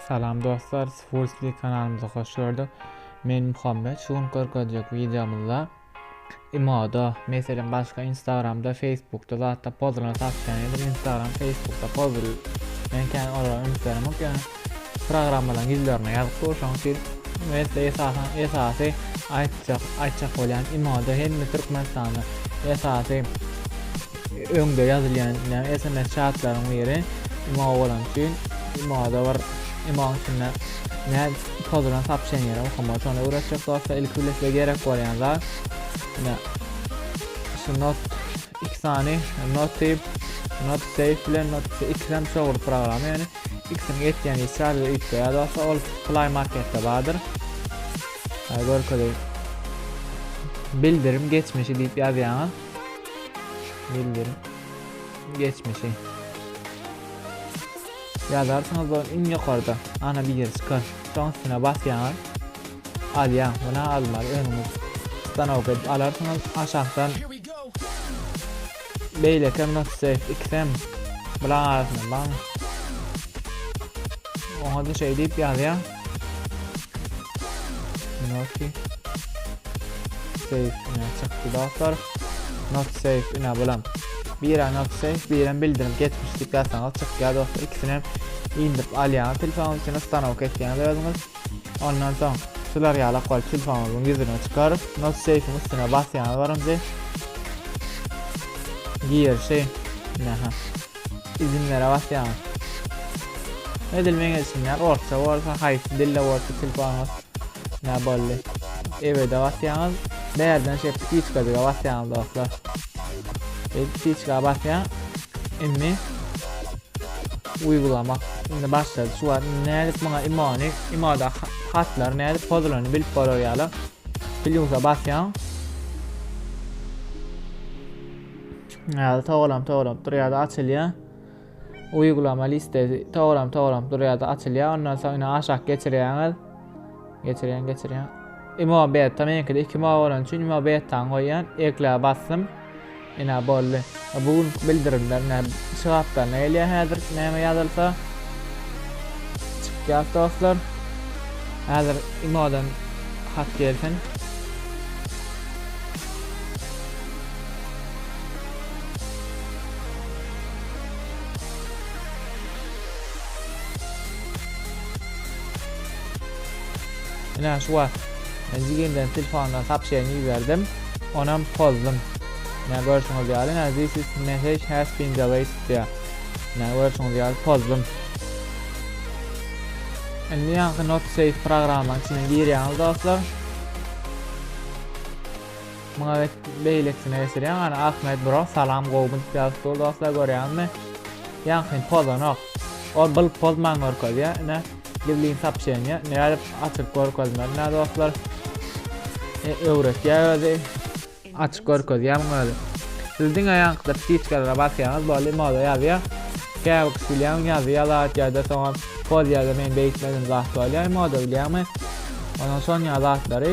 Salam dostlar Sfulsli kanalymyza hoş gördük Men Muhammet şu gün görkezjek videomyzda Imoda meselem başga instagramda facebookda zatda pozlaryny satýan edim instagram facebookda pozul men kän olara üns beremok ýöne programmalaryň ýüzlerine ýazyp dur şoň üçin mesele esasan esasy aýtjak aýtjak bolýan imoda hemme türkmenistanda esasy Öňde ýazylýan näme sms çatlaryň biri imo bolany üçin imoda bir imoň içinde nä pozulan sapşenýeler okamaly şony öwretjek dostlar ilki bile size gerek bolýan zat ine şu not iki sany not deyip not save bilen not ikisem çogry programma ýöne ikisini ýetýän işi sadece üýtge ýa dostlar ol play marketde bardyr görkezeýin bildirim geçmişi diýip ýazýaňyz Milli geçmişi. Ýazarsyňyz bu iň ýokarda. Ana bir ýer çykar. Şoň üstüne basýaňyz. Alýaň. Buna almaly öňüňiz. Stanok edip alarsyňyz. Aşakdan beýleki hem not save ikisem bulaň arasynda baň. Oňa da şeýdip ýazýaň. Noki. Safe ine çykdy dostlar. Not safe ine bulam. Bira not safe, birem bildirim geçmiş diýip ýazsaňyz çykýar dostlar. İkisini hem indirip alýaňyz telefonyň içine stanok etýäňiz özüňiz. Ondan soň şular ýaly kol telefonyňyzyň ýüzüne çykar. Not safe'iň üstüne basýaňyz birinji. Girişi. Ine ha. Izinlere basýaňyz. Edil meň edişimden orta bolsa, haýsy dilde bolsa tilpanyňyz ne boldy. Ebede basýaňyz. Bärden şeýle ptiçkadyga basýaňyz dostlar. Biz ptiçka basýan. Indi uygulama. Indi başladı. Şu var. Nädip buna imani, imada hatlar nädip pozulany bilip bolar ýaly. Plyusa basýaň. Ýa-da togalap togalap durýar-da açylýar. Uýgulama listesi togalap togalap durýar-da açylýar. Ondan soň ine aşak geçirýäňiz. Geçirýän geçirýän. Imo beta meňkide 2 mo bolan üçin imo betany goýýan. Ekle basdym. Ina boldy. Bu gün bildirimler ne şygapdan ne gelýär häzir näme ýazylsa. Çykýar dostlar. Häzir imodan hat gelsin. Ina şu wagt jigenden telefonuna sapşeni ýüberdim. Onam pozdum. Ina görşüňiz ýaly, ina this is message has been delayed diýýär. Ina görşüňiz ýaly pozdum. Indi ýaňky not save programmanyň içine girýäňiz dostlar. Muňa bet beýlekisine geçirýän gana Ahmet bro salam gowmy diýip ýazypdyr dostlar görýäňizmi? Ýaňkyny pozanok. Ol byl pozman görkezýä ine Livlin sapşenýa nädip açyp görkezmeli nä dostlar? E, öwretýä özi. Açyk görkezýä muňa özi. Siz diňe ýaňkyda ptiçkalara basýaňyz boldy moda ýazýa. Käbir kişi bilýän ýazdy ýalat ýa-da soňam poz ýa-da men beýtmedim zat bolýa moda bilýäňmi? Onuň şon ýa zatlary.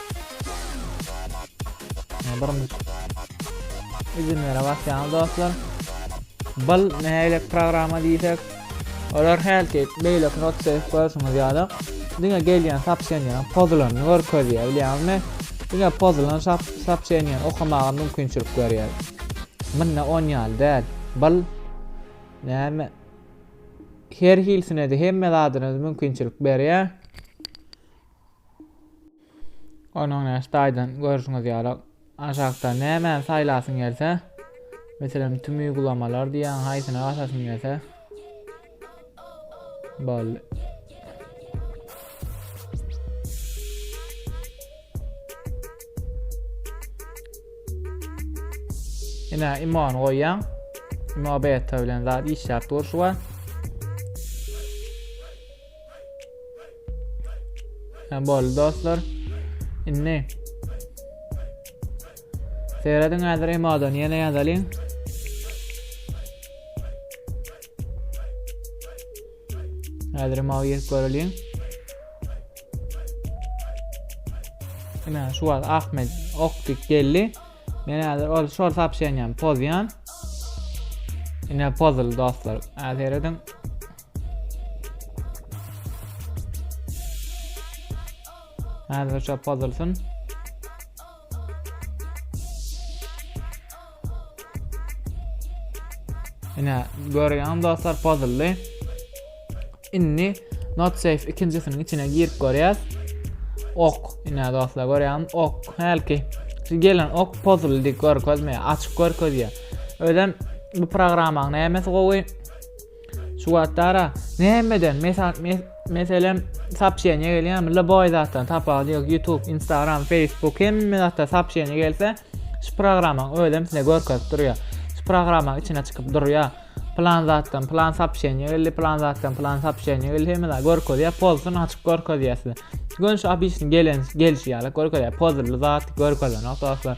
Birinji izinlere basýaňyz dostlar. Bul nähili programma diýsek, olar hälki beýleki not save görşüňiz ýaly diňe gelýän sapşenýanyň pozulanyny görkezýär bilýäňizmi? Diňe pozulan sapşenýany okamaga mümkinçilik berýär. Munda on ýaly däl. Bul näme? Her hilsine-de hemme zadyna mümkinçilik berýär. Onuň näş taýdan görüşüňiz ýaly aşakda nämäni saýlasyň gelse, meselem tüm uygulamalar diýýän haýsyna basasyň gelse. Boldy. Ine imon goýýan. Imo beta bilen zat işläp durşy bar. Ha boldy dostlar. Indi Seýrediň häzir emodan ýene ýazalyň. Häzir emow ýetip göreliň. Ine şu wagt Ahmet okdyk geldi. Men häzir ol şol sapşenýän pozýan. Ine pozul dostlar. Häzir ediň. Häzir şu pozulsun. Ine görýän dostlar pozuldy. Indi not safe ikinjisiniň içine girip görýäs. Ok, ine dostlar görýän ok hälki gelen ok pozuldy görkezmeýär, açyk görkezýär. Özem bu programmaň nämesi gowy? Şu wagt ara nämeden mesal meselem sapşeniýe gelýärmi lboý zatdan tapawudy ýok youtube instagram facebook hemme zatda sapşeniýe gelse şu programmaň özem size görkezip durýar şu programmaň içine çykyp durýar plan zatdan plan sapşeniýe geldi plan zatdan plan sapşeniýe geldi hemme zat görkezýär pozsun açyk görkezýär size göni şu obisni gelen gelişi ýaly görkezýär pozully zat görkezenok dostlar